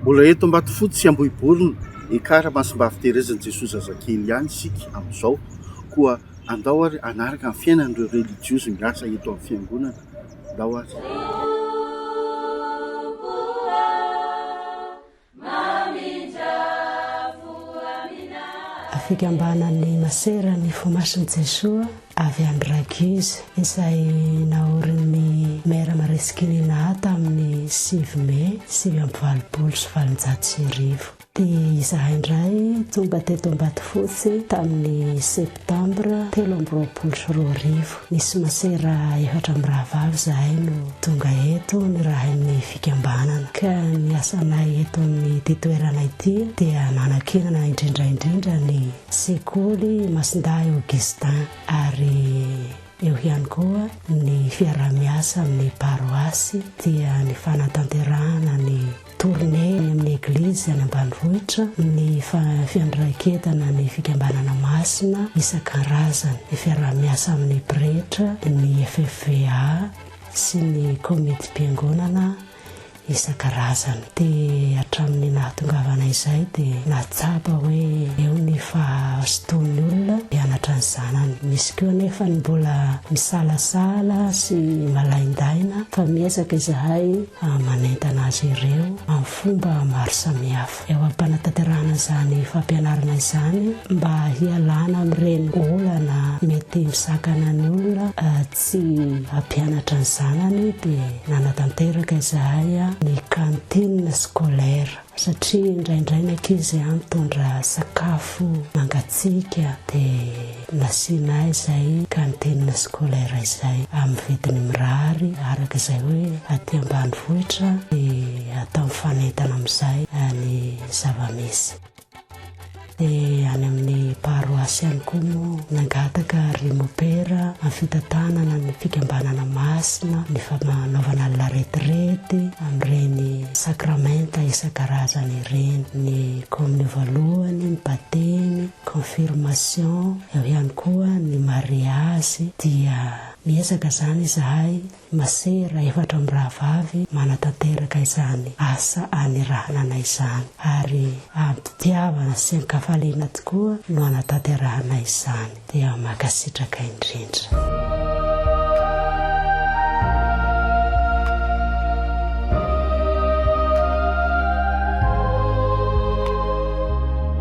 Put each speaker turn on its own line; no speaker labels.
Mbola eto Ambatofotsy sy Ambohiborina, Ekar, Masimbavy Terezin'i Jesoa Zazakely ihany isika amin'izao, koa andao ary hanaraka ny fiainan'ireo relijiozy miasa eto amin'ny Fiangonana, andao ary.
Fikambanan'ny Maseran'ny Fo Masin'i Jesoa. avy any Raguise izay naorin'ny Maire Maresikinina A tamin'ny sivy Mey sivy amby valopolo sy valonjato sy arivo. Dia izahay indray tonga teto Ambatofotsy tamin'ny Septambra telo amby roapolo sy roa arivo. Nisy masera efatra mirahavavy izahay no tonga eto nirahin'ny fikambanana. Ka ny asanay eto amin'ity toerana ity dia nanankinana indrindra indrindra ny Sekoly Masindahy Augustin ary eo ihany koa ny fiaraha-miasa amin'ny paroasy dia ny fanatanterahana ny tournée any amin'ny Eglizy any ambanivohitra, ny fiandraiketana ny fikambanana masina isan-karazany, ny fiaraha-miasa amin'ny pretra, ny FFVA sy ny Komitim-piangonana isan-karazany. Dia hatramin'ny nahatongavana izay dia nahatsapa hoe eo ny fahazotoan'ny olona hianatra ny zanany. Misy koa anefa ny mbola misalasala sy malaindaina fa miezaka izahay manentana azy ireo amin'ny fomba maro samihafa eo am-panatanterahana izany fampianarana izany mba hialana amin'ireny olana mety misakana ny olona Tsy hampianatra ny zanany dia nanatanteraka izahay ny cantine scolaire satria indraindray ny ankizy mitondra sakafo mangatsiaka dia nasianay izay cantine scolaire izay amin'ny vidiny mirary araka izay hoe aty ambanivohitra dia atao mifanentana amin'izay ny zava-misy. Dia any amin'ny paroasy ihany koa moa nangataka ry mopera amin'ny fitantanana ny fikambanana masina, ny fanaovana ny laretirety amin'ireny sakramenta isan-karazany ireny, ny kominio voalohany, ny batemy, confirmation, eo ihany koa ny mariazy, dia miezaka izany izahay Masera efatra mirahavavy manatanteraka izany asa aniranana izany ary am-pitiavana sy an-kafaliana tokoa no anatanterahana izany. Dia mankasitraka indrindra.